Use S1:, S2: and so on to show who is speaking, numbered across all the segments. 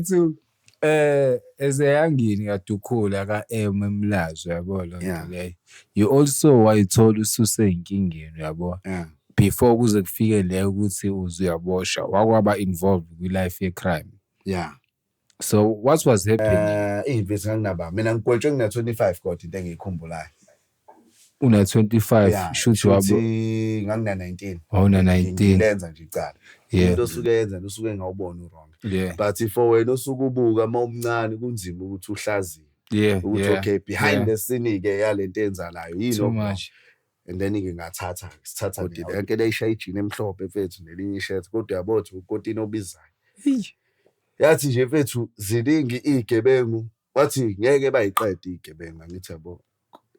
S1: Mfethu eh ezeyangini kaDukhula kaM eMlazi uyabo lo Yeah. nto leyo. You also wayithola ususe enkingeni uyabo. Yeah. Before kuze kufike le ukuthi uze uyaboshwa wakwaba involved kwi life ye crime. Yeah. So what was happening? Eh, imvisi nganginaba.
S2: Mina ngigwetshwe ngina 25 kodwa into engiyikhumbulayo. una 25
S1: Yeah, shuthi wabo shuthi ngangina 19
S2: wawuna 19
S1: ngilenza nje icala
S2: Yeah. into osuke yenza usuke engawubona uwrong yeah but for wena osuke ubuka uma umncane kunzima ukuthi uhlaziye yeah ukuthi yeah okay behind yeah. the scene ke yalento enzalayo yini too okungayo? much
S1: and then ke
S2: ngathatha sithatha Kodwa nina. yonke le ishaya ijini emhlophe mfethu nelinye ishirt kodwa yabo thi ukotini obizayo yathi nje mfethu ziningi igebengu wathi ngeke bayiqede igebengu angithi yabo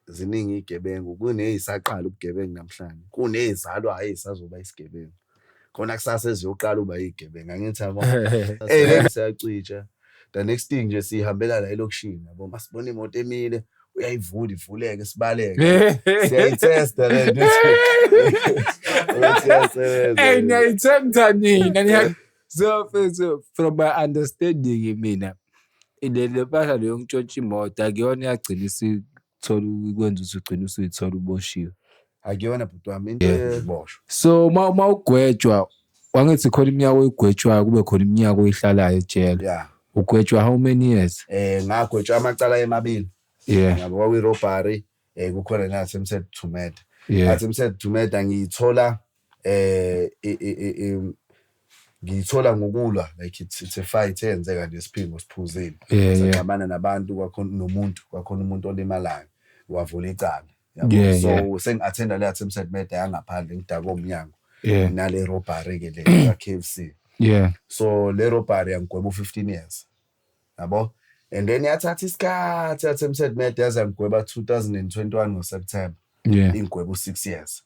S2: ziningi iy'gebengu, kuney'saqala ubugebengu namhlanje, kuney'zalwayo ey'sazoba isigebengu. Khona kusasa eziyoqala ukuba iy'gebengu, angithi yabo? Eyi, lento siyacija. The next thing nje sihambela la elokishini yabo, uma sibona imoto emile, uyayivula ivuleke, sibaleke. Siyayithesta le nto ukuthi ukuthi
S1: iyasebenza. Eyi, niyayithemtha nina, niya- so mfethu from my understanding mina le le mpahla leyo ngitshontsha imoto akuyona yagcina isithola ukwenza ukuthi ugcine usuyithola uboshiwe akuyona bhuti
S2: wami into Yeah. yeboshwa so uma uma
S1: ugwetshwa wangithi khona iminyaka oyigwetshwayo kube khona iminyaka oyihlalayo ejele ya ugwetshwa how many years um ngagwetshwa amacala
S2: emabili yeah yabo kwakwi-robbery um kukhona nasemsethumeda yeah athi msethumeda ngiyithola Ngiyithola ngokulwa like it's, it's a fight eyenzeka nje siphingo siphuzile sixabana nabantu kwakhona nomuntu kwakhona umuntu olimalayo wavula icala yabo so sengi-athenda le attempt at murder yangaphandle ngidake omnyango nale robbery ke le ka-KFC yeah so le robbery yangigweba u-15 years yabo and then yathatha isikhathi yathi emsed med yaze yangigweba 2021 ngoseptember yeah ingigweba u-six years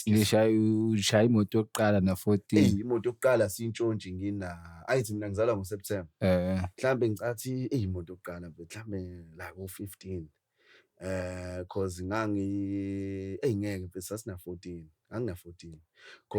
S2: ngishaya
S1: ushaya imoto yokuqala na 14 eyi imoto yokuqala
S2: siyintshontshi ngina ayithi mina ngizalwa ngoseptember eh mhlawumbe ngicathi eyi imoto yokuqala but mhlawumbe la ko-15 eh cause ngangi eyi ngeke mfethu sasina-14 angina-14 cause